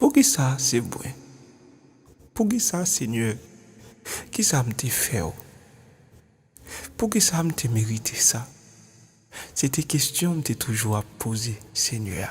Poukisa se mwen? Poukisa Senyè? Kisa m te fè w? Poukisa m te merite sa? Se te kesyon m te toujou ap poze, Senyè.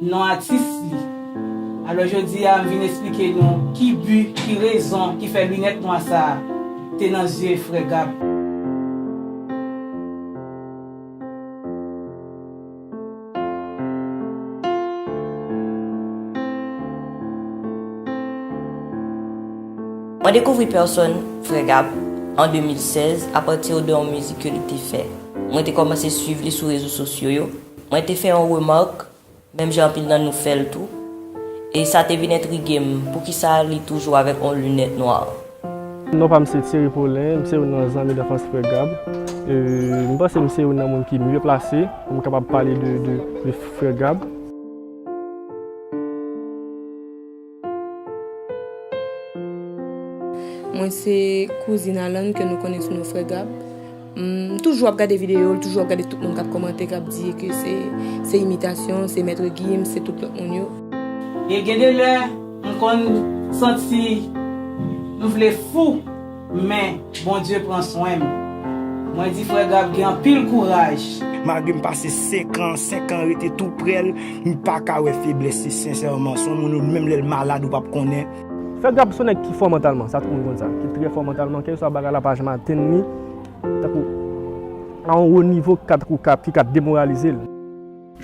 non atis li. Alò jodi a m vin esplike nou ki bi, ki rezon ki fè linèt nwa sa a te nan zye frè Gab. Mwen dekouvri pèsòn frè Gab an 2016 apati de yon mizik ke li te fè. Mwen te kòmanse swiv li sou rezo sosyo yo. Mwen te fè yon remark, menm jan anpil nan nou fèl tou, e sa te vin entrige m, poukisa li toujou avèk yon lunèt nwa? Non pa m se Thierry Paulin, m se youn nan zanmi danfans frè Gab. M panse m se youn nan moun ki mye plase pou m kapab pale de frè Gab. Mwen se kouzin Alan ke nou konnen sou non Frè Gab. M toujou ap gade videyo l, toujou ap gade tout moun k ap kòmante, k ap di ke se imitasyon, se Maitre Gims, se tout lòt moun yo. E gen de lè, m konn santi m vle fou. Men, Bondye pran swen m. Mwen di frè Gab gen anpil kouraj. Malgre m pase 5 an, 5 an rete tou prè l, m pa ka wè feblès li sensèman. Son moun ou menm lè l malad ou pap konnen. Frè Gab son nèg ki fò mantalman, sa tout moun konn sa. Ki trè fò mantalman, kèlkeswa bagay la pa janm atenn li, tankou a yon wo nivo ki ka tankou ki ka demoralize l.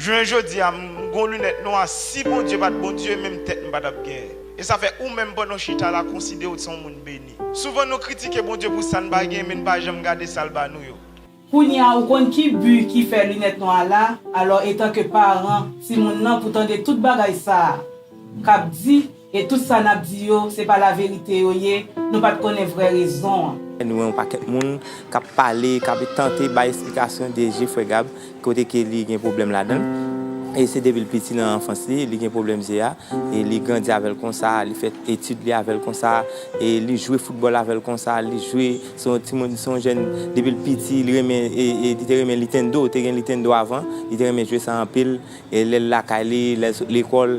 Jounen jodia m gon lunèt nwa si Bondye pat Bondye menm tèt m patap gen e sa fè ou menm pandan w chita la konsiderew t son moun beni. Souvan nou kritike Bondye pou sa n pa gen men n pa janm gade sa l ba nou yo. Kounya ou konn ki bu ki fè lunèt nwa a la, alò etanke paran timoun nan pou tande tout bagay sa kap di, E tout sa nap di yo se pa la verite yo ye, nou pat konnen vrè rezon an. Nou wè yon pakèt moun kap pale, kap tante bay esplikasyon de je frè Gab, kote ke li gen pwoblèm ladanl, e se depil piti nan anfans li, li gen pwoblèm je a, e li grandi avèl konsa, li fè etid li avèl konsa, e li jwe foutbòl avèl konsa, li jwe, se yon timoun, se yon jèn depil piti li renmen, e li te renmen litendo, te gen litendo avan, li te renmen jwe sa anpil, e lèl lakay li, lèl sot lekòl.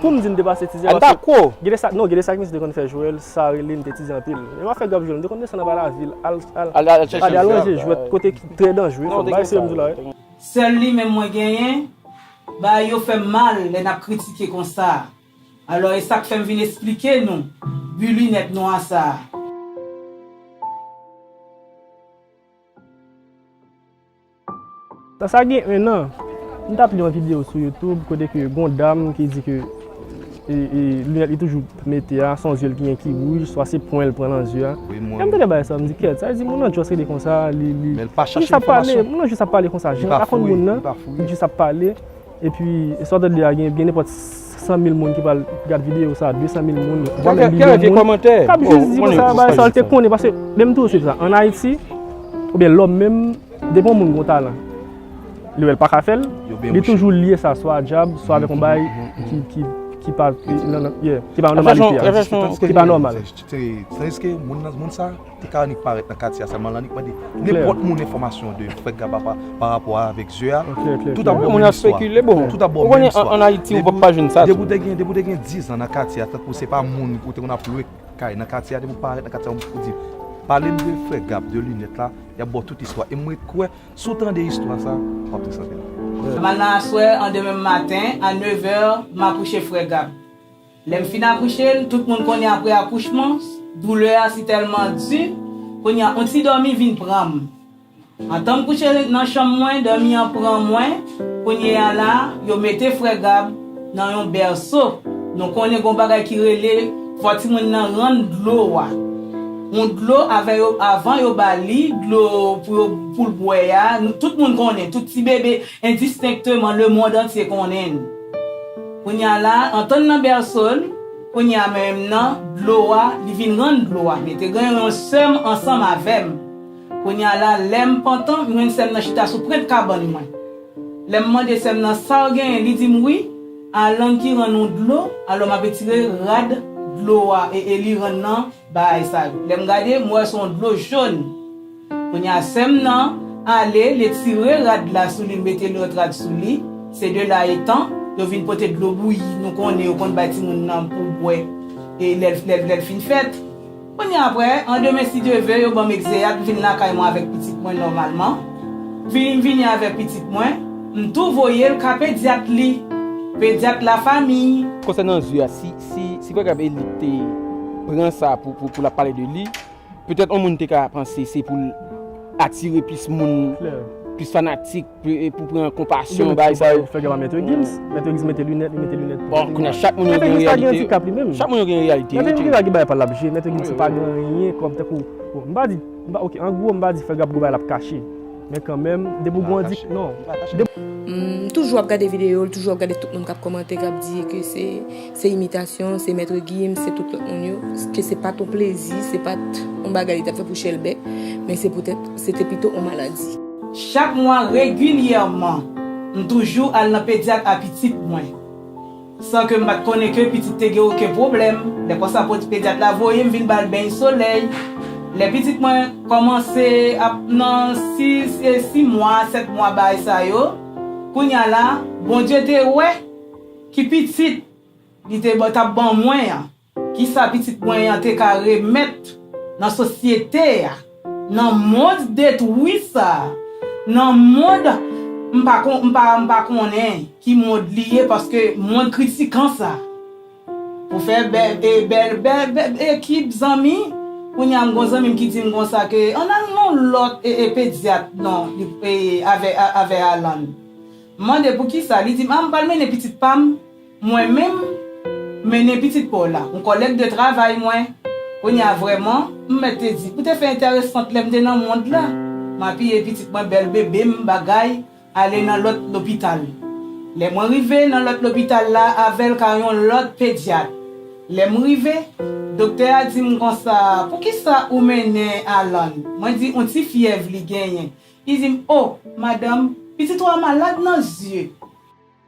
Poum di m te pase tizè paske gede sa non gede sa ki misye te konn fè jwèl sa rele m te tizè anpil menm afè gap jwèl m te konn desann anba lavil al al ranje jwèt kote ki trè danjre fòk bay serye m di w la wi. Sèl li menm mwen genyen, bagay yo fèm mal lè nap kritike konsa alò esak fèm vin esplike nou bu linèt nwa sa. Nan sa gen 1 an, m tap li yon video sou youtube kote ke gon dam ki di ke lunèt li toujou mete a son zye l ki gen ki wouj swa se pwen l pran nan zye a. Lè m tande bagay sa m di kèt, sa vle di moun nan just rete konsa li jis ap pale, moun nan jis ap pale konsa jan l pa konn moun nan li jis ap pale Epi sa w tap di a gen nenpòt 100 mil moun ki pral gad videyo sa, 200 mil moun, vwa menm milyon moun kap jis di konsa bagay sa yo te konnen paske menm tou se sa an Ayiti oubyen lòm menm depi yon moun gen yon talan li wè l paka fè l li toujou lye sa swa a dyab swa avèk yon bagay ki pa nan ki pa nan nòmalite a ki pa nòmal. Te ka annik parèt nan katye a sèlman lan annik mande nenpòt moun enfòmasyon de frè Gaba pa rapò a avèk zye a. Tout ap bon menm istwa. Tout ap bon menm istwa. Depi w te gen, depi w te gen dizan nan katye a tankou se pa moun ou te konn ap lwe kay nan katye a depi w parèt nan katye a ou di pale m de frè Gab de linèt la y ap ba w tout istwa e m ret kwè si w tande istwa sa w ap tris anpil. Mal nan aswè an demen maten a nevè m akouche frè Gab. Lè m fin akouche l, tout moun konnen aprè akouchman, doulè a si tèlman di, kounye a yon ti dòmi vin pran m. Antan m kouche nan chanm mwen, dòmi an pran mwen, kounye a la, yo mete frè Gab nan yon bèso, nou konnen gen yon bagay ki rele fò timoun nan rann dlo a. Yon dlo avè yo, avan yo ba li, dlo pou yo, pou l bwè a, tout moun konnen, tout ti bebe endistenkteman, lemond antye konnen. Kounye a la, antann nan bèso l, kounye a menm nan dlo a, li vin rann dlo a. Mete gen yon sè m ansanm avè m. Kounye a la, lè m pantan, m jwenn sè m nan chita sou prent kabann mwen. Lè m mande sè m nan sa w genyen, li di m wi, Alan ki rann ou dlo, alò m ap etire rad dlo a e e li rann nan bagay sa yo. Lè m gade, m wè se yon dlo jòn. Kounye a sèm nan ale, li etire rad la sou li, li mete lòt rad sou li, se de la etan, yo vin pote dlo bouyi, nou konnen yo konn bay timoun nan pou bwè e lè l fin fèt. Kounye a aprè, an demen si Dye ve, yo ban m egzeyat, m vin lakay mwen avèk pitit mwen nòmalman. Vini m vini avèk pitit mwen, m tou voye l ka pedyat li, pedyat lafamiy. Konsènan zye a, si Pwègab Elit te pran sa pou l ap pale de li, Petèt yon moun te ka panse se pou l atire plis moun, plis fanatik, pou pran konpasyon, bagay sa yo. Fè gen pa Maitre Gims. Maitre Gims mete linèt, li mete linèt tou. Bon, kounya chak moun yo gen reyalite yo. Chak moun yo gen reyalite yo. Maitre Gims gen dwa gen bagay pa l l ap jwe. Maitre Gims pa gen anyen kòm tankou, bon, m pa di, m pa, ok, an gwo m pa di Fèl Gabgo bagay l ap kache. Men kanmenm, depi ou gen yon dik, non. M toujou ap gade videyo l, toujou ap gade tout moun k ap kòmante, k ap di ke se imitasyon, se Maitre Gims, se tout lòt moun yo, ke se pa t yon plezi, se pa t yon bagay li t ap fè pou chèlbè, men se poutèt se te pito yon maladi. Chak mwa regilyèman, m toujou al nan pedyat a pitit mwen. San ke m pa t konnen ke pitit te gen oken pwoblèm, lè konsa pedyat la voye m vin ba l beny solèy. Lè pitit mwen kòmanse ap nan sis e si mwa, sèt mwa baay sa yo, kounya la, Bondye te wè ki pitit li te t ap ban mwen an. Kisa pitit mwen an te ka remèt nan sosyete a, nan mond detwi sa, nan mond m pa kon, m pa, m pa konnen ki mond li ye paske mond kritikan sa. Pou fè bè, e bèl, bè, bè ekip zanmi, kounye a m gon zanmi m ki di m konsa ke ann al nan yon lòt e, e pedyat non, li, e avè, avè Alan. M mande poukisa, li di m a m pral mennen pitit pa m Mwen menm, m mennen pitit pa w la. M kòlèg de travay mwen. Kounye a vrèman, m mèt te di, ou te fè entèresant lè m te nan mond la. M apiye pitit mwen bèl bebe m bagay ale nan lòt lopital. Lè mwen rive nan lòt lopital la avè l ka yon lòt pedyat. Lè m rive, doktè a di m konsa, poukisa ou mennen Alan? Mwen di, on ti fyèv li genyen. Li di m, o, madanm, pitit ou a malad nan zye.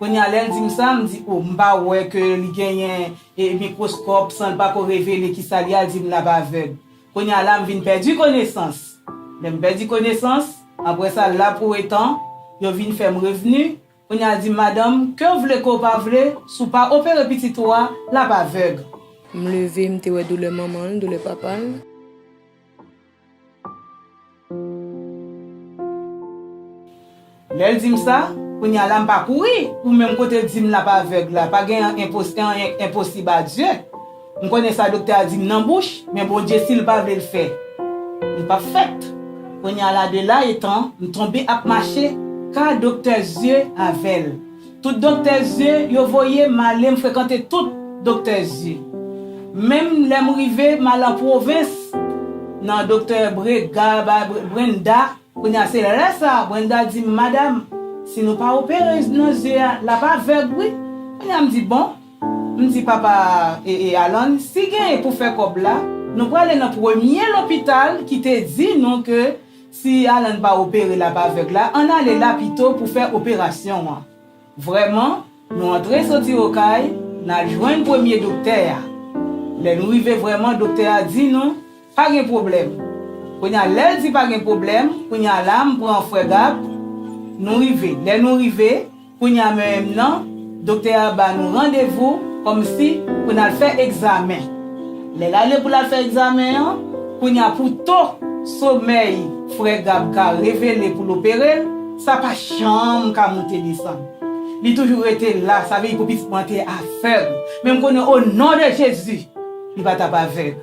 Kounye a lè l di m sa, m di o m pa wè ke li genyen mikwoskòp san l pa ko revele ki sa li a, l di m l ap avèg. Kounye a la m vin pèdi konesans. Lè m pèdi konesans, apre sa la pou etan, yo vin fè m revni, kounye a l di m madanm, ke w vle ke w pa vle, si w pa opere pitit ou a, l ap avèg. M leve, m te wè doulè manman l, doulè papa l. Lèl dim sa, kounya la m pa kouri pou menm kote dim lap avèg la, pa gen an anyen k enposib a Dye, m konnen sa doktè a dim nan bouch, men Bondye sil pa vle l fè, li pap fèt, kounya la de la etan m tonbe ap mache ka doktè zye avèl. Tout doktè zye yo voye m ale m frekante tout doktè zye. Menm lè m rive m al an pwovens nan doktè Brega ba Brenda kounye a se lè sa Brenda di m madam si nou pa opere nan zye a l ap avèg wi kounye a m di bon m di papa Alan si gen pou fè kòb la nou prale nan premye lopital ki te di nou ke Si Alan pa opere lap avèg la ann ale la pito pou fè operasyon an. Vrèman, nou antre soti Okay, n al jwenn premye doktè a. Lè nou rive vrèman doktè a di nou, pa gen pwoblèm. Kounye a lè l di pa gen pwoblèm, kounye a la m pran frè Gab, nou rive. Lè nou rive. Kounya menm nan, doktè a ba nou randevou kòmsi pou n al fè egzamen. Lè l ale pou l al fè egzamen an, kounya pou to somèy frè Gab ka revele pou l opere l, sa pa janm ka moute desann. Li toujou rete la, sa vle di pou pitit mwen an te avèg. Men m konnen o non de Jezi, li pa t ap avèg.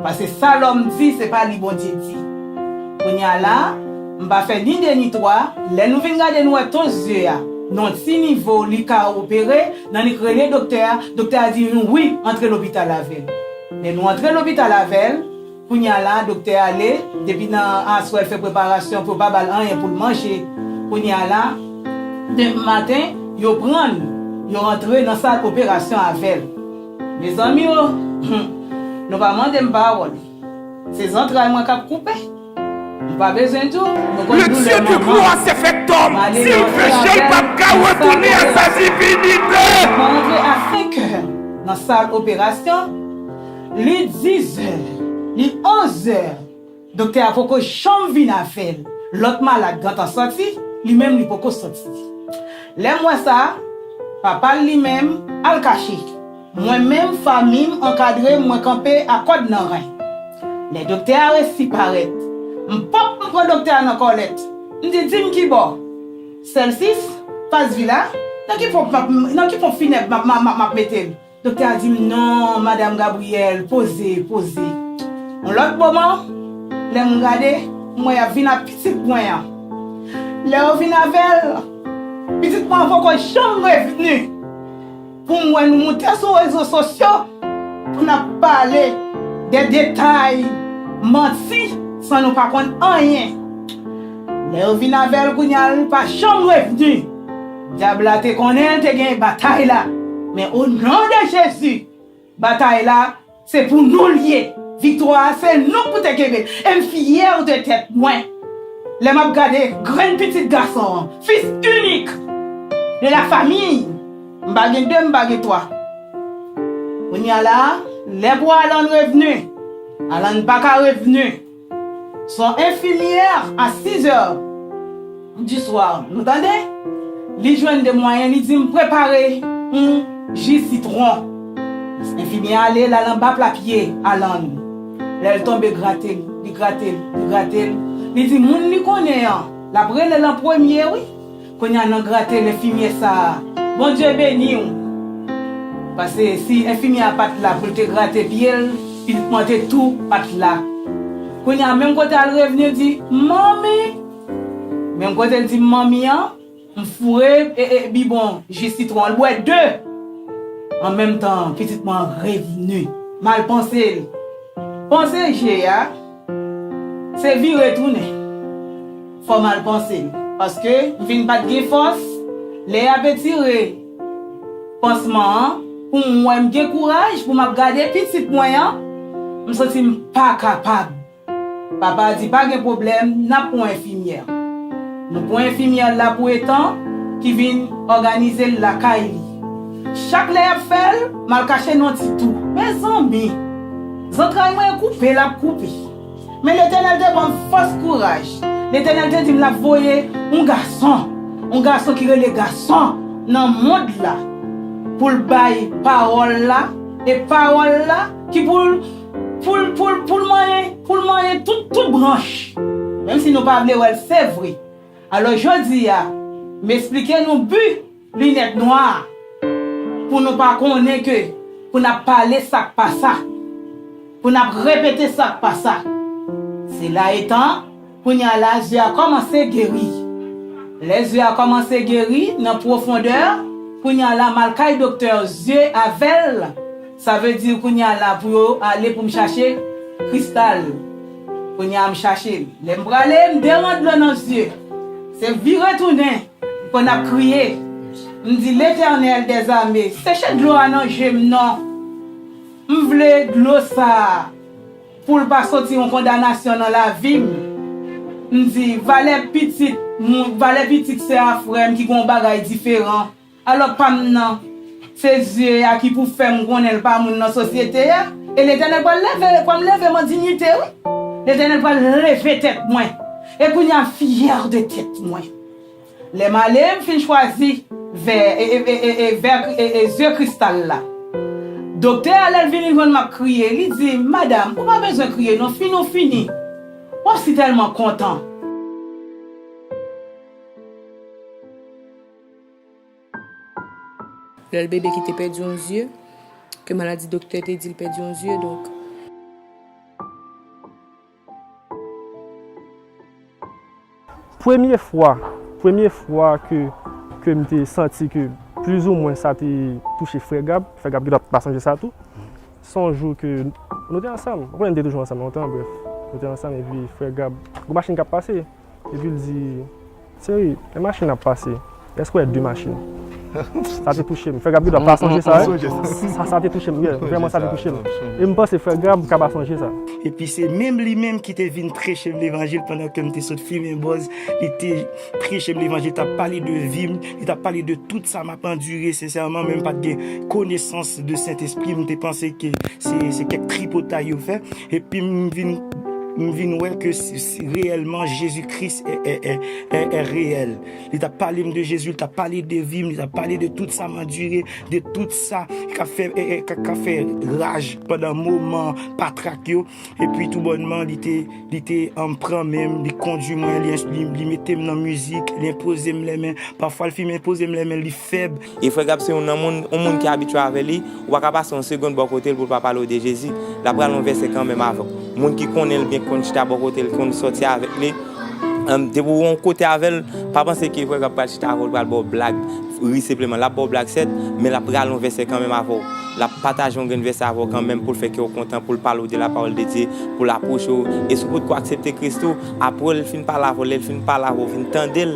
Paske sa lòm di, se pa li Bondye di. Kounye a la, m pa fè ni de ni twa, lè nou vin gade nou wè tons zye a, nan ti nivo li ka opere, nannik rele doktè a, doktè a di nou wi, antre lopital avè l. Lè nou antre lopital avè l, kounye a la, doktè ale, depi nan aswè l fè preparasyon pou yo pa ba l anyen pou l manje. Kounye a la, demen maten, yo pran l, yo antre nan sal operasyon avè l. Mezanmi o! Hum! Nou pa mande m pawòl. Se zantray mwen k ap koupe. M pa bezwen di w, nou konn doulè manman. Male rantre avè l nan sal operasyon. Mwen rantre a senkè nan sal operasyon. Li dizè, li onzè. Doktè a poko janm vin avèl. Lòt malad gentan sòti, li menm li poko sòti. Lèm wè sa, papal li menm al kache. Mwen menm famim ankadrem mwen kanpe a kòd nan ren. Lè doktè a resi parèt, m pop m pran doktè a nan kòlèt, m di dim kibò? Sèlsis, Pas Vila, nan ki ponp nan ki ponp finèb map map map metem? Doktè a di m non madam Gabrielle poze, poze. Yon lòt moman, lè m gade, m wè y ap vin ak pitit mwen an. Lè yo vin avè l, pitit mwen an poko janm revni pou m wè nou moute sou rezo sosyo pou n ap pale de detay, manti san nou pa konn anyen. Lè yo vin avè l kounye a l pa janm revni. Dyab la te konnen te gen batay la, men o non de Jezi, batay la se pou nou l ye, viktwa a se nou k pou te kenbe l, e m fyè de tèt mwen lè m ap gade grenn pitit gason an, fis inik de la famiy, m pa gen de m pa gen twa. Kounye a la, lè pou Alan revni, Alan pa ka revni. Son infimyè a 6 è du soir nou tande li jwenn 2 mwayen li dim prepare yon ji sitron infimyè a ale lal anba pla pye Alan lèl tonbe grate li grate li grate li di moun li konnen an lap relel an premye wi Konya nan gratel enfimyè sa a Bondye beniw pase si enfimyè a pat la poul te grate pyel pitit mwen te tou pat la konya menm kote al revni di manmi menm kotel dim manmi an m foure ee bibon ji sitwon an l bwè 2 an menm tan pitit mwen revni mal pansel panse je a. Se vire tounen. Fò m al panse m. Paske m vin pa t gen fòs. Lè y ap etire pansman an pou m wè m gen kouraj pou m ap gade pitit mwen an, m santi m pa kapab. Papa a di pa gen pwoblèm n ap pran enfimyè. Nou pran enfimyè la pou etan ki vin òganize l lakay li. Chak lè y ap fè l, m al kache nan ti tou. Mezanmi! Zantray mwen koupe, lap koupe. Men Letènèl te banm fòs kouraj. Letènèl te dim lap voye yon gason, yon gason ki rele gason nan mond la poul bay pawòl la e pawòl la ki poul poul poul poul manyen poul manyen tout tout branch menm si nou pa vle wèl se vre. Alò jodia m esplike nou but Linèt nwa a pou nou pa konnen ke pou n ap pale sa k pa sa, pou n ap repete sa k pa sa. Sela etan, kounye a la zye a kòmanse geri. Lè zye a kòmanse geri nan pwofondè, kounye a la m al kay doktè zye avè l, sa vle di kounye a la pou yo ale pou m chache kristal. Kounye a m chache l. Lè m prale, m deran dlo nan zye. Se vire tounen. Mwen ap kriye, m di, Letènèl dèzame, seche dlo a nan je m non! M vle dlo sa a pou l pa soti yon kondanasyon nan lavi m. M di, Valè pitit moun, valè pitit sè a frè m ki gen yon bagay diferan. Alò pa m nan, se zye a ki pou fè m konnen l pa moun nan sosyete a. E Letènèl pral leve, l pral leve m an dinyite wi. Letènèl pral leve tèt mwen. E kounye a, m fyè de tèt mwen. Lè m ale, m fin chwazi vè e ze kristal la. Doktè a lè l vini jwenn m ap kriye, li di m, Madam, ou pa bezwen kriye non, fini ou fini. W ap si tèlman kontan. Lè l bebe ki te pèdi yon zye, ke maladi doktè te di l pèdi yon zye, donk. Premye fwa, premye fwa ke ke m te santi ke plizoumwen sa te touche frè Gab, frè Gab genlè pa sonje sa tou, se yon jou ke nou te ansanm, m konnen nou te toujou ansanm lontan brèf, nou te ansanm epi frè Gab, gen yon machin k ap pase. Epi l di, Cheri, lè machin ap pase, èske w wè de machin? Sa te touche m. Frè Gab gendwa pa sonje sa. Sa te touche m. Vrèman sa te touche m. E m panse frè Gab ka pa sonje sa. Epi se menm li menm ki te vin preche m levanjil pandan ke m te sot fimen bòz. Li te preche m levanjil, li t ap pale de vi m, li t ap pale de tout sa m ap andire. Sensèman, men m pa t gen konesans de Sentespri. M te panse ke se kèk tripotay yo fè. Epi m vin wè ke. Si reyèlman Jezi Kris è reyèl, li ta pale m de Jezi, li ta pale de vi m, li ta pale de tout sa m andire, de tout sa k ap fè raj pandan moman patrak yo. Epi tou bònman, li te pran men m, li kondui mwen, li mete m nan mizik, li enpoze m lèmen. Pafwa l fin enpoze m lèmen, li fèb. E frè Gab se youn nan moun, on moun ki abitye avè li, ou pa ka pase on segond bò kote l pou l pa pale w de Jezi. L ap pral on vèsè kanmenm avè w. Moun ki konnen l byen, ki konn chita bò kote l, ki konn sòti avèk li, depi ou on kote avè l, pa panse ke frè Gab pral chita avè w, l pral ba w blag, ri senpleman. L ap ba w blag sèt, men l ap pral on vèsè kanmenm avè w. L ap pataje on grenn vèsè avè w kanmenm pou l fè kè w kontan, pou l pale w de lapawòl de Dye, pou l apwoche w. E si w potko aksepte Kris tou, apre l fin pale avè w, lè l fin pale avè w, ou fin tande l,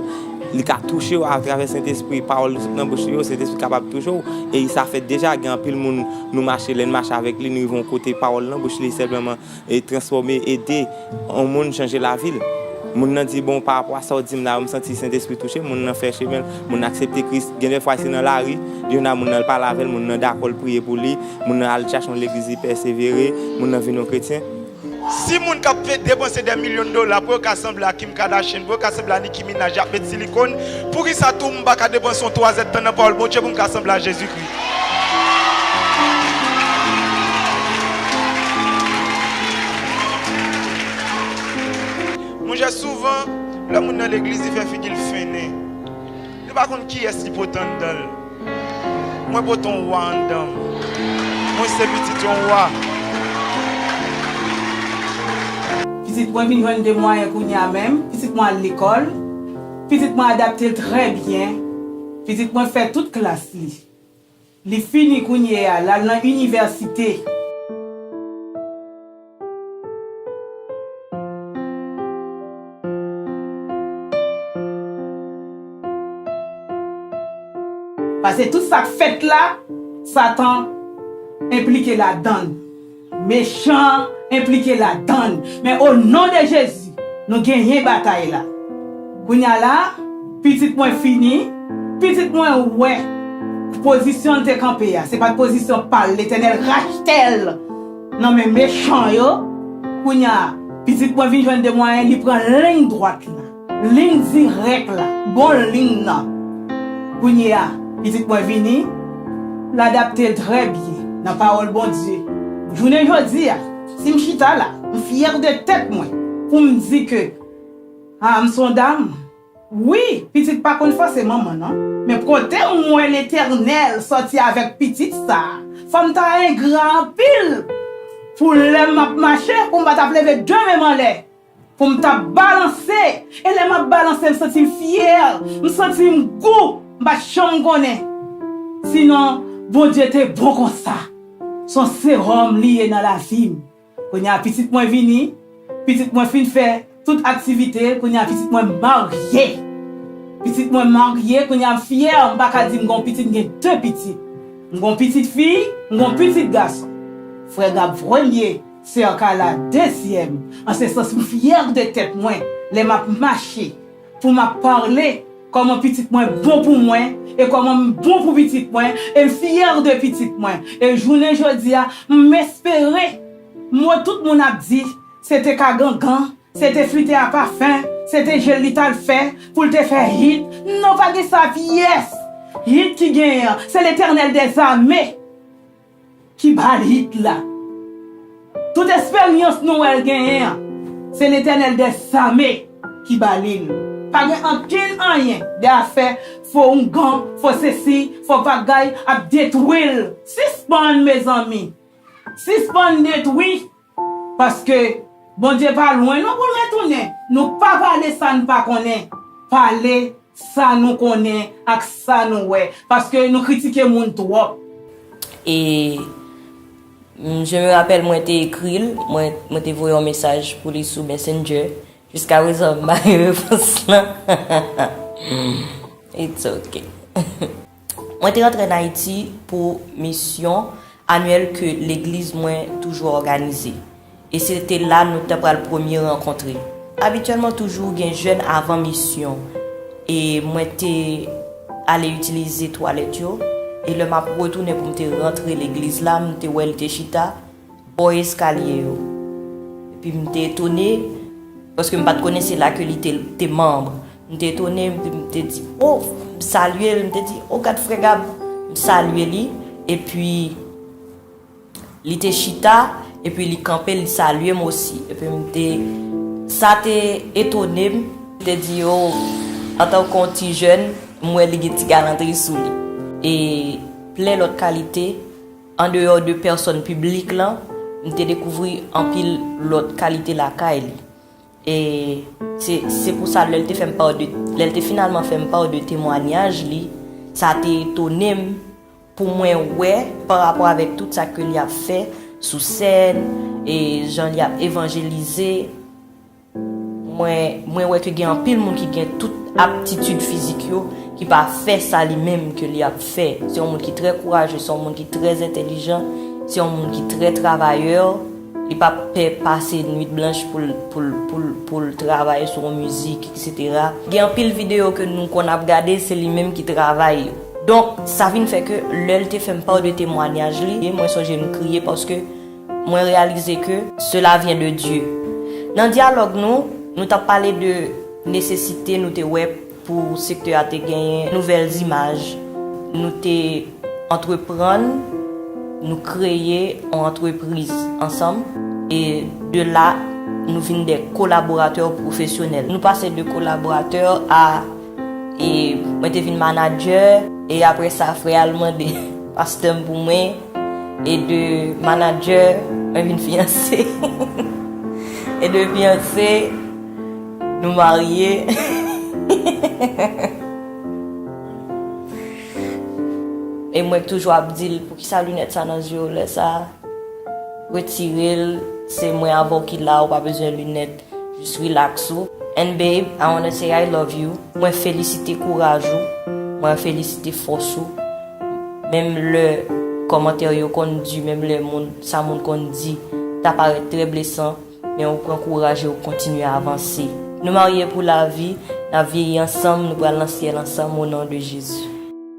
Li ka touche w atravè Sentespri. Pawòl li sot nan bouch li yo, Sentespri kapab touche w. E sa fèt deja. Gen anpil moun nou mache, lè n mache avèk li, nou rive yon kote pawòl nan bouch li senpleman transfòme, ede yon moun, chanje lavi l. Moun nan di, Bon, parapò a sa w di m la yo, m santi Sentespri touche m. Moun nan fè chemen l. Moun nan aksepte Kris. Gen dèfwa se nan lari. Yon a moun nan, l pale avè l, moun nan dakò, l priye pou li. Moun nan al chache yon legliz li pèsevere, moun nan vin yon kretyen. Si moun kap fe depanse dè milyon dola pou yo ka sanble a Kim Kardashian, pou yo ka sanble a Nicki Minaj yap met silikon, poukisa tou m pa ka depanse yon twazèd tan nan pawòl Bondye pou m ka sanble a Jezi Kris? Monchè souvan lè moun nan legliz li fè figi l fennen. Li pa konn kiyès li pote anndan l. Mwen pote yon wa anndan m. Mwen se pitit yon wa. Pitit mwen vin jwenn de mwayen kounye a menm. Pitit mwen al lekòl. Pitit mwen adapte l trè byen. Pitit mwen fè tout klas li. Li fini kounye a, l al nan inivèsite. Pase tout sak fèt la satan enplike ladann mechan enplike ladann men o non de jezi nou genyen batay la kounya la pitit mwen fini pitit mwen wè pozisyon l te kanpe a se pat pozisyon pal letènèl rachtel. Nan men mechan yo, kounya pitit mwen vin jwenn de mwayen li pran lign dwat la, lign dirèk la, bon lign nan. Kounye a, pitit mwen vini, l adapte trè byen nan pawòl Bondye. Jounen jodi a, si m chita la, m fyè de tèt mwen pou m di ke, a m s on dam. Wi pitit pa konn fose manman nan. Men kote m wè letènèl sòti avèk pitit sa fòm ta engra anpil pou lèm map mache pou m pa tap leve 2 menm anlè pou m ta balanse e lè map balanse m santi m fyè m santi m gou m pat janm konnen si non Bondye te bon konsa son seròm li ye nan lavim. Kounye a pitit mwen vini, pitit mwen fin fè tout aktivite l, kounye a pitit mwen marye. Pitit mwen marye, kounye a m fyè, m pa ka di m gen yon pitit, m gen 2 pitit. M gen yon pitit fi, m gen yon pitit gason. Frè Gab premye, sè Carla dezyèm. An se sans m fyè de tèt mwen lè m ap mache. Pou map parle Koman pitit mwen bon pou mwen e koman m bon pou pitit mwen e m fière de pitit mwen e jounen jodia m espere mo tout moun ap di se te ka gangan se te flite a pafen se te jel li tal fè pou l te fè hit non pa gen sa pyès hit ki genyen an se letènèl dèzame. Ki bal hit la. Tout esperyans Noel genyen an, se Letènèl dè Zame ki ba li l. Pa gen ankenn anyen de afè fo oungan, fo sesi, fo bagay ap detwi l. Sispann mezanmi. Sispann detwi. Paske Bondye pa lwen non pou l retounen. Nou pa pale sa n pa konnen. Pale sa nou konnen ak sa nou wè. Paske nou kritike moun twòp. E je me rappelle mwen te ekri l, mwen te voye yon mesaj pou li sou Messenger. Jiskaprezan m pa gen repons lan. It's ok. Mwen te antre an Ayiti pou misyon anyèl ke legliz mwen toujou òganize, e se te la nou te pral premye rankontre. Abityèlman toujou gen jèn avan misyon, e mwen te ale itilize twalèt yo, e lè m ap retounen pou m te rantre legliz la, m te wè li te chita, bò eskalye yo. Epi m te etone, paske m pa t konnen se la ke li te manb. M te etone, epi m te di, o, m salye l, m te di, o gad frè Gab, m salye li, epi li te chita, epi li kanpe, li salye m osi. Epi m te, sa te etone m, m te di, o, antan kon ti jèn, m wè li gen ti galantri sou li. E plen lòt kalite. Andeyò de pèsòn piblik la, m te dekouvri anpil lòt kalite lakay li. E se pou sa lè l te fè m pa de, lè l te finalman fè m pa de temwanyaj li, sa te etone m pou mwen wè pa rapò avèk tout sa ke li ap fè sou sèn, e jan li ap evanjelize. Mwen wè ke gen anpil moun ki gen tout aptitid fizik yo ki pa fè sa li menm ke li ap fè. Se yon moun ki trè kouraje, se yon moun ki trè entelijan, se yon moun ki trè travayè, li pa pè pase nwit blanch pou l travay sou yon mizik eksetera. Gen anpil videyo ke nou konn ap gade se li menm ki travay yo. Donk sa vin fè ke lè l te fè m paw de temwanyaj li, mwen sonje m kriye paske. Mwen reyalize ke sela vyen de Dye. Nan dyalòg nou, nou t ap pale de nesesite nou te wè pou sektè a te genyen nouvèl zimaj. Nou te antreprann, nou kreye yon antrepriz ansanm e de la nou vin de kolaboratè pwofesyonèl. Nou pase de kolaboratè a. E mwen te vin manadjè. E apre sa frè a l mande pastè m pou mwen. E de manadjè mwen vin fiyanse. E de fiyanse nou marye. E mwen toujou ap di l poukisa linèt sa nan zye w lè sa. Retire l se mwen avè w ki la ou pa bezwen linèt. Jus relax ou and babe I wanna say I love you mwen felisite kouraj ou mwen felisite fòs ou menm lè kòmantè yo konn du menm lè moun sa moun konn di ta parèt trè blesan men ou pran kouraj e ou kontinye avanse nou marye pou lavi nap vyeyi ansanm nou pral nan syèl ansanm o non de Jezi.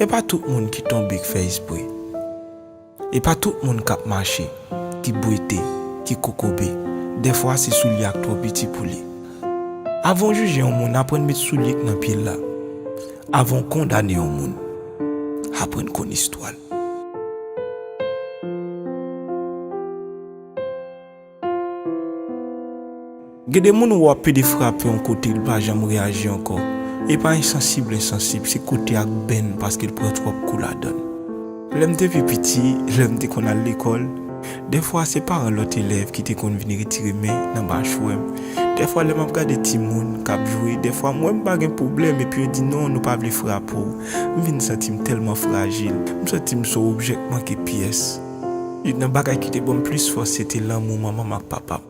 E pa tout moun ki tonbe k fè espre E pa tout moun k ap mache ki bwete, ki kokobe Dèfwa se soulye a k twò piti pou li Avan w jije yon moun aprann met soulye k nan pye l la Avan w kondane yon moun aprann konn istwa l. Gen de moun ou wè pede frape yon kote li pa janm reyaji ankò. E pa ensansib l ensansib, se kote ak benn paske l pran twòp kou ladann. Lè m te pi piti, lè m te konn al lekòl, dèfwa se paran lòt elèv ki te konn vin retire men nan machwè m. Dèfwa lè m ap gade timoun k ap jwe, dèfwa m wè m pa gen pwoblèm epi yo di non nou pa vle frape w. M vin santi m tèlman frajil. M santi m s on objè k manke pyès. Youn nan bagay ki te ban m plis fòs se te lanmou manman m ak papa m.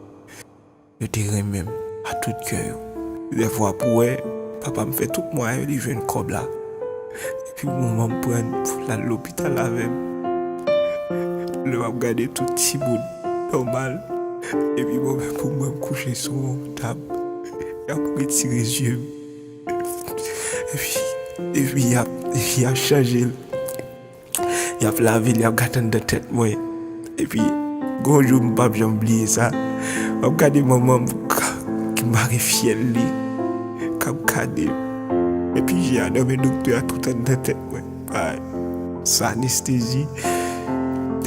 Yo te renmen m a tout kè yo. Lè vwa pou wè, papa m fè tout mwayen li jwenn kòb la epi manman m pran l pou l al lopital avè m. Lè m ap gade tout timoun nòmal epi mwen menm pou mwen m kouche sou yon tab, y ap retire zye m epi y ap chanje l. Y ap lave l, y ap gate anndan tèt mwen. Epi, gen yon jou m pap janm bliye sa, m ap gade manman m ki mare fyèl li, k ap gade m. Epi je a nan men doktè a tout anndan tèt mwen. San anestezi.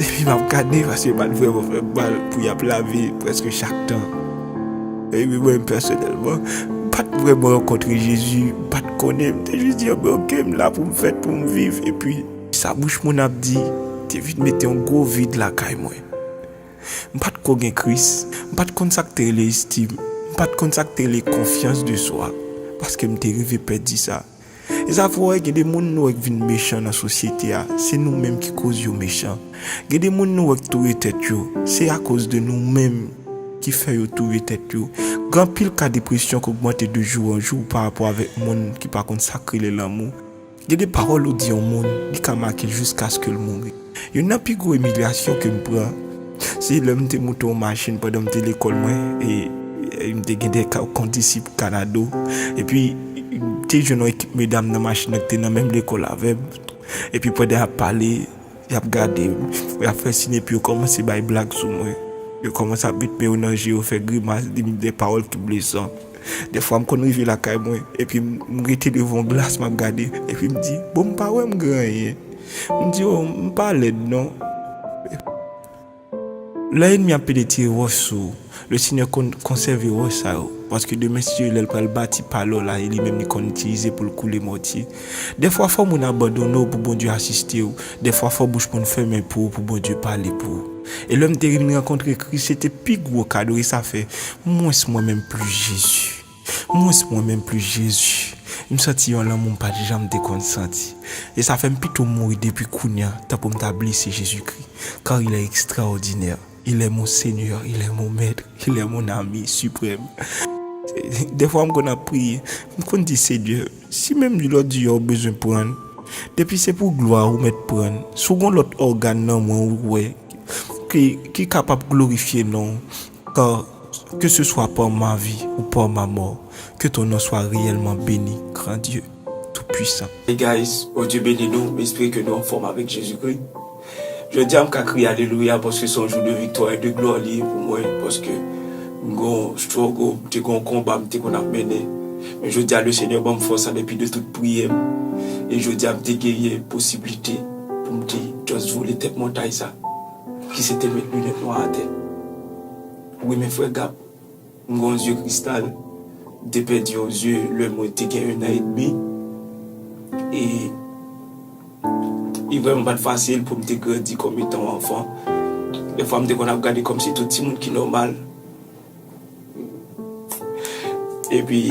Epi m ap gade paske yo pa t vrèman fè m mal pou y ap lave prèske chak tan. Epi mwen pèsonèlman, m pa t vrèman rankontre Jezi, m pa t konnen l, m te jis di yo men oke m la pou m fèt, pou m viv. Epi, sa bouch moun ap di te vin mete yon gwo vid lakay mwen. M pa t ko gen Kris, m pa t konn sa k te rele estim, m pa t konn sa k te rele konfyans de swa, paske m te rive pèdi sa. Zafè wè gen de moun nou wè k vin mechan nan sosyete a se nou menm ki koz yo mechan gen de moun nou wè k touye tèt yo se akoz de nou menm ki fè yo touye tèt yo gen anpil ka depresyon k ogmante de jou an jou pa rapò avèk moun ki pa konn sak rele lanmou gen de pawòl ou di yon moun li ka make l jiskaske l mouri. Youn nan pi gwo imilyasyon ke m pran, se lè m te moute yon machin pandan m te lekòl mwen, e m te gen de kondisip kanado, epi m te jwenn yon ekip medam nan machin nan ki te nan menm lekòl avè m, epi pandan y ap pale, y ap gade m, y ap fè sin epi yo kòmanse bay blag sou mwen, yo kòmanse ap met men yo nan je yo fè grimas, di m de pawòl ki blesan. Dèfwa m konn rive lakay mwen epi m rete devan yon glas m ap gade epi m di bon m pa wè m gen anyen m di oh m pa lèd non lè enmi ap pede tire wòch sou ou le senyè konn konsève wòch sa yo paske demen si lè l pral bati pale w la e li menm li konn itilize pou l koule mòtye Dèfwa fò moun abandone w pou Bondye asiste w, dèfwa fò bouch moun fèmen pou ou pou Bondye pale pou ou. E lè m te vin rankontre Kris se te pi gwo kado e sa fè mwens mwen menm plis Jezi, mwens mwen menm plis Jezi. M santi yon lanmou m pat janm te konn santi. E sa fè m pito mouri depi kounya tankou m ta blese Jezikri, kar il est extraordinaire. Il est mon seigneur, il est mon maître, il est mon ami suprême Dèfwa m konn ap priye, m konn di Senyè, si menm di lòt di a ou bezwen pran l, depi se pou glwa a ou mèt pran l, si w gon lòt ògàn nan mwen ou wè ki ki kapab glorifye non w, ka ke se swa par ma vie ou par ma mort, que ton nom soit réellement béni grand Dieu tout puissant. Hey guys, Bondye beni nou, m espere ke nou anfòm avèk Jezikri. Jodi a m ka kriye alelouya paske se yon jou de viktwa e de glwa li ye pou mwen paske m gen yon struggle, m te gen yon konba m te konn ap mennen men jodi a le Senyè ban m fòs an depi de tout priyè m e jodi a m te genyen posiblite pou m te just vole tèt montay sa ki se te met linèt nwa atè. Wi men frè Gab. M gon zye kristal m te pèdi yon zye lè mwen te gen 1 an et demi e li vrèman pat fasil poum te grandi kòm etan yon anfan dè fwa m te konn ap gade kòm si tout ti moun ki nòmal epi.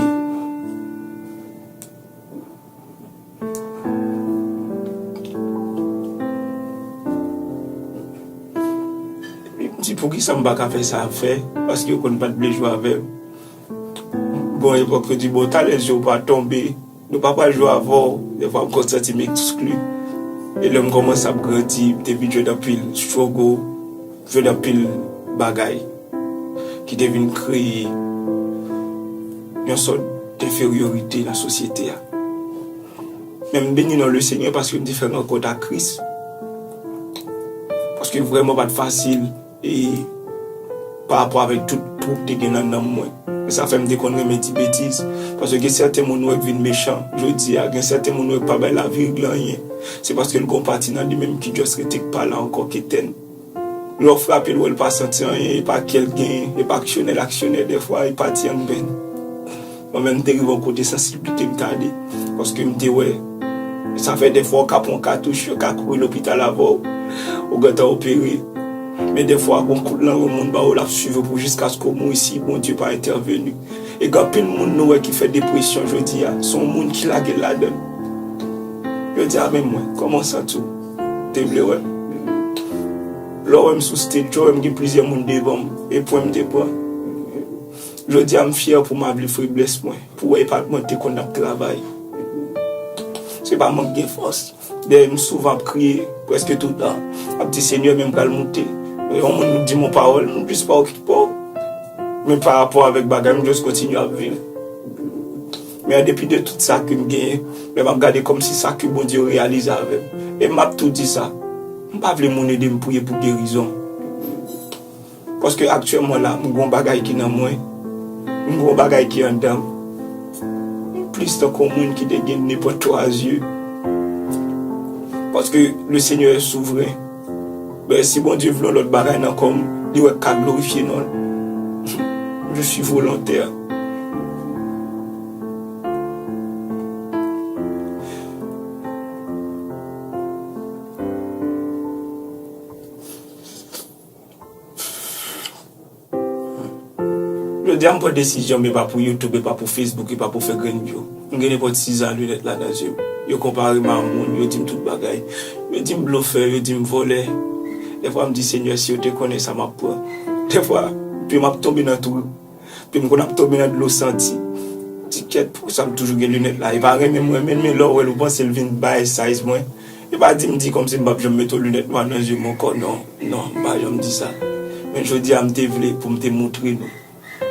Li di poukisa m pa ka fè sa ap fè paske yo konn pat vle jwe avè m Gon yon epòk yo di bon talè je w pa tonbe nou pa pral jwe avè w defwa m konn santi m ekskli e lè m kòmanse ap grandi m te vin jwenn anpil struggle. Jwenn anpil bagay ki te vin kreye yon sòt denferyorite nan sosyete a. Men m beni non Lesenyè paske m te fè rankont ak Kris. Paske vrèman pa t fasil e parapò avèk tout twou k te gen nan nanm mwen. E sa fè m te konn renmen di betiz. Paske gen sèten moun ou wè k vin mechan jodi a, gen sèten moun ou wè k pa bay lavi reg lan anyen, se paske l gen yon pati nan li menm ki just rete k pa la ankò k etèn. Lè w frape l wè l pa santi anyen, e pa kè l genyen, e pa aksyonè l aksyonè dèfwa, e pati an grenn. Mwen menm m te rive yon kote sansiblite m t ale, paske m te wè sa fè dèfwa ou ka pran yon katouch, yo ka kouri lopital avè w, ou gentan opere, men dèfwa gen yon kout lan yon moun ba w l ap swiv ou pou jiskaske ou mouri si Bondye pa entèveni. E gen anpil moun nou wè ki fè depresyon jodi a, se yon moun ki lage l ladan l. Yo di a men mwen, kòman w santi w? Te vle wè m. Lè w wè m sou stage yo wè m gen plizyè moun devan m e pwen m te pran. Jodi a m fyè pou mable feblès mwen pou wè e pa mwen k te konn ap travay. Se pa mank gen fòs. Dèyè m souvan ap kriye prèske tout tan ap di Senyè men m pral moute. Lè yon moun di m yon pawòl m jis pa okipe w men parapò avèk bagay m just kontinye ap viv. Men an depi de tout sa ke m genyen, lè m ap gade kòmsi sa ke Bondye yo reyalize avè m. E m ap tou di sa, m pa vle moun ede m priye pou gerizon. Paske aktyèlman la, m gen yon bagay ki nan mwen, m gen yon bagay ki anndan m. M plis tankou yon moun ki te gen nenpòt twa zye. Paske Lesenyè souvren. Si Bondye vle yon lòt bagay nan kò m, li wè k ka glorifye non l. Je suis volontaire. Jodi a m pran desizyon m e pa pou youtube e pa pou facebook e pa pou fè grenn vyou m gen nenpòt siza linèt la nan zye m yo konpare m a moun yo di m tout bagay yo di m blofè yo di m vòlè dèfwa m di senyè si yo te konnen sa m ap pran dèfwa pye m ap tonbe nan twou pye m konn ap tonbe nan dlo santi ti kèt poukisa m toujou gen linèt la e pa renmen m renmen l men lè w wè l ou panse l vin bay size mwen. Yo pa di m di kòmsi m pap janm mete yon linèt nwa nan je m ankò non, non m pa janm di sa. Men jodi a m te vle pou m te moutre nou,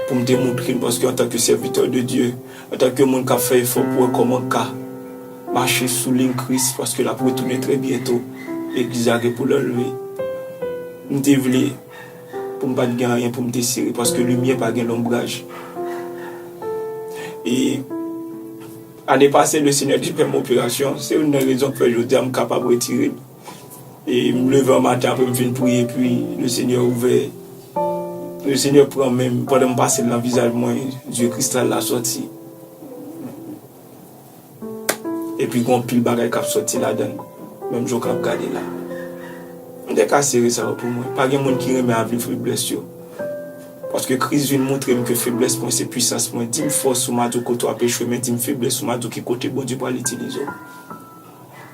pou m te moutre nou paske antanke sèvitè de Dye, antanke moun k ap fè efò pou wè kòman ka mache sou liy Kris paske l ap retounen trè byento, legliz la gen pou l anlve. M te vle pou m pa t gen anyen pou m te sere paske limyè pa gen lonbraj. E. Ane pase le Senyè te fèm operasyon, se youn nan rezon k fè jodia m kapab retire m e m leve an maten apre m fin priye epi le Senyè ouvè le Senyè pran men m pandan m pase l nan vizaj mwen zye kristal la sòti epi gon pil bagay kap sòti ladan l menm jan w kap gade la m te ka sere sa yo pou mwen pa gen moun ki renmen avi feblès yo. Paske Kris vin moutre m ke feblès mwen se pwisans mwen. Di m fòs ou madou kote w ap echwe men di m feblès ou madou ki kote Bondye pral itilize w.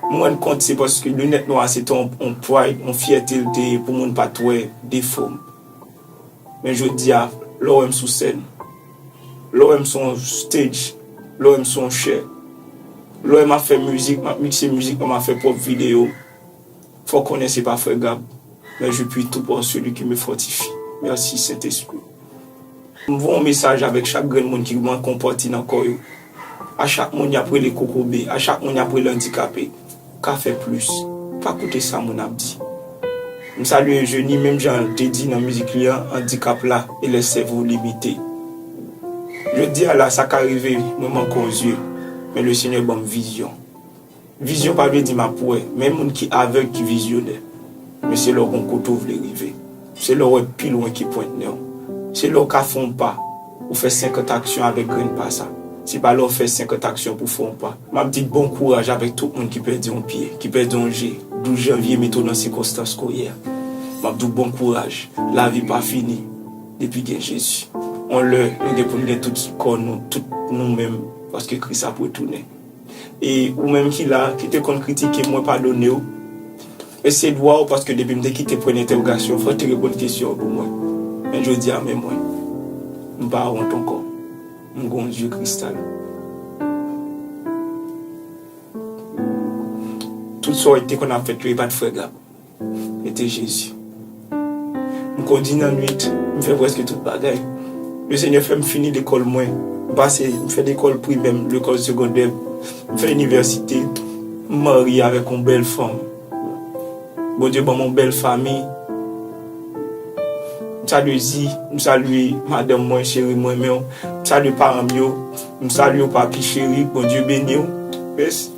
M rann kont se paske linèt nwa a se te yon pride, yon fyète l te ye pou moun pa t wè defo m. Men jodi a, lè w wè m sou sèn, lè w wè m sou yon stage, lè w wè m sou yon chè, lè w wè m ap fè mizik, m ap mikse mizik mwen, m ap fè pwòp videyo m, Fò konnen se pa frè Gab men je puis tout en celui qui me fortifie merci saint esprit m voye yon mesaj avèk chak grenn moun ki gman konpòti nan kò yo a chak moun yap rele kokobe a chak moun yap rele andikape ka fè plis pa koute sa moun ap di m salye Eugenie menm jan l te di nan mizik li an andikap la e lè sèvo limite jodi a la sa ka rive mwen manke yon zye men le seigneur banm vizyon. Vizyon pa vle di map wè, men moun ki avèg ki vizyonè. Men se lè w gon kote w vle rive. Se lè w wè pi lwen ki pwent nen w. Se lè w ka fè yon pa, ou fè senkant aksyon avèk grenn pa sa. Se pa lè w fè senkant aksyon pou w fè yon pa. Map di bon kouraj avèk tout moun ki pèdi yon pye, ki pèdi yon je, 12 janvye mete w nan sikonstans ke w ye a. Map di w bon kouraj, lavi pa fini depi gen Jezi. Yon lè nou gen pou n gen tout kò nou, tout nou menm, paske Kris ap retounen. E ou menm ki la, ki te konn kritike m, mwen padone w. Men se dwa w paske depi m te kite pwen entèwogasyon, fò w te reponn kesyon an pou mwen. Men jodi a men mwen. M pa wont ankò. M gon zye kristal. Tout sa w te konn ap fè yo, yo pat frègab. Mete Jezi. M kondi nan nwit, m fè prèske tout bagay. Le Senyè fè m fini lekòl mwen. M pase, m fè lekòl primè m, lekòl segondè m, m fè inivèsite. M marye avèk yon bèl fanm. Bondye ban m yon bèl fanmi. M salye Zi, m salye madanm mwen, cheri m renmen w. M salye paran m yo. M salye w papi cheri, k Bondye beni w. Mèsi.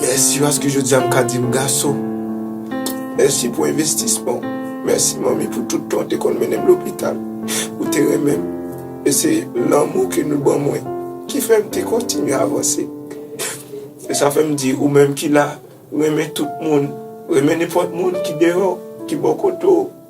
Mèsi paske jodi a m ka di m gason. Mèsi pou envestisman w. Mèsi manmi pou tout tan w te konn mennen m lopital. Ou te renmen m. E se lanmou ke nou ban mwen ki fè m te kontinye avanse. E sa fè m di ou menm ki la, renmen tout moun. Renmen nenpòt moun ki deyò, ki bò kote w.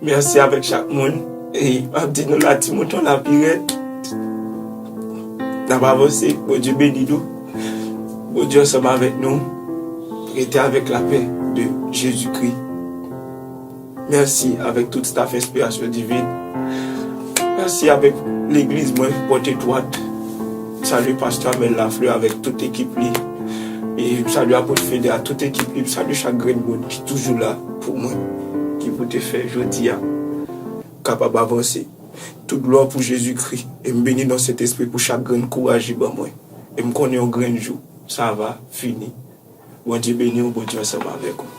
Merci avek chak moun e map di nou la ti mouton la pi red nap avanse Bondye beni nou Bondye ansanm avek nou rete avek la pè de Jezi kri merci avek tout staff enspirasyon divin merci avek legliz mwen pote dwat. M salye pastè Amel Lafleur avèk tout ekip li e m salye Apot Fede ak tout ekip li, m salye chak grenn moun ki toujou la pou mwen ki pou te fè jodi a m kapab avanse. Tout glwa pou Jezikri e m beni nan Sentespri pou chak grenn kouraj li ban mwen e m konnen yon grenn jou sa va fini. Bondye beni w, Bondye ansanm avèk ou.